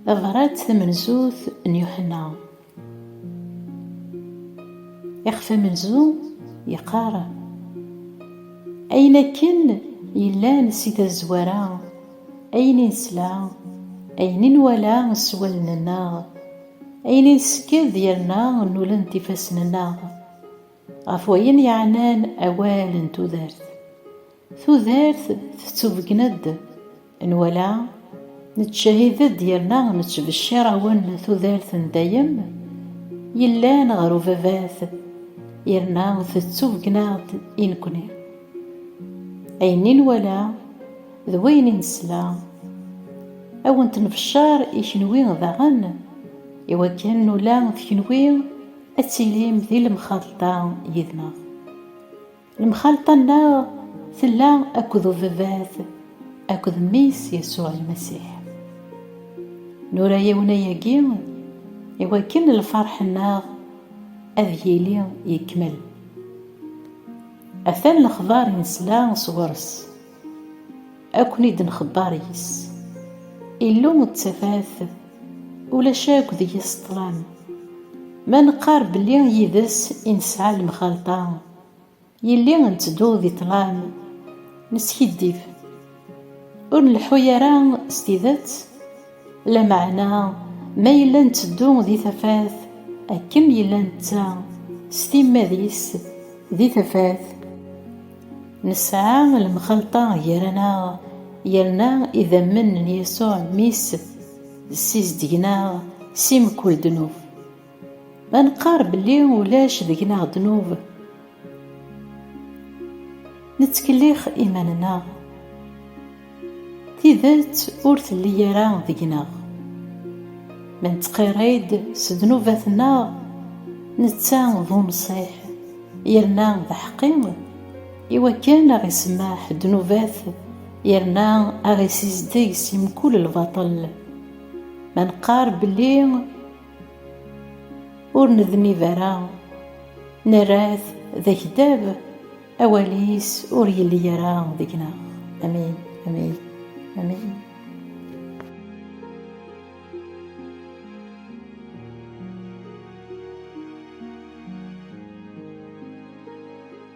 Tabrat tamenzut n Yuḥenna. Ixef amenzu yeqqar, Ayen akken yellan si tazwara, ayen i nesla, ayen i nwala s wallen-nneɣ, ayen i nsekked yerna nulent ifassen-nneɣ, ɣef wayen yeɛnan awal n tudert, Tudert tettubegna-d, nwala, nettcahid-d yerna nettbecciṛ awen tudert n dayem yellan ɣer ubabat yerna tettubegna-ɣ-d i nekni. Ayen i nwala d wayen i nesla, a wen-t-nbecceṛ i kenwi daɣen, i wakken nula d kenwi ad tilim di lemxalṭa yid-neɣ. Lemxalṭa-nneɣ tella akked ubabat akked mmi-s Yasuɛ Lmasiḥ. Nura-yawen ayagi i wakken lferḥ-nneɣ ad yili yekmel. Atan lexbar i nesla sɣur-s, ad ken-id-nxebber yis. Illu d tafat, ulac akk deg-s ṭṭlam. Ma neqqar belli yid-s i nesɛa lemxalṭa, Yelli ntteddu di ṭṭlam, neskiddib, ur nleḥḥu ara s tidet, lameɛna ma yella ntteddu di tafat akken yella netta s timmad-is di tafat, nesɛa lemxalṭa gar-aneɣ yerna idammen n Yasuɛ Mmi-s ssizdgen-aɣ si mkul ddnub. Ma neqqar belli ulac deg-neɣ ddnub, nettkellix iman-nneɣ. Tidet ur telli ara deg-neɣ. Ma nettqirri-d s ddnubat-nneɣ, netta d unṣiḥ yerna d aḥeqqi i wakken a ɣ-isemmeḥ ddnubat yerna a ɣ-isizdeg si mkul lbaṭel. Ma neqqar belli Ur nednib ara, nerra-t d akdab, awal-is ur yelli ara deg-neɣ. Amin, amin, amin.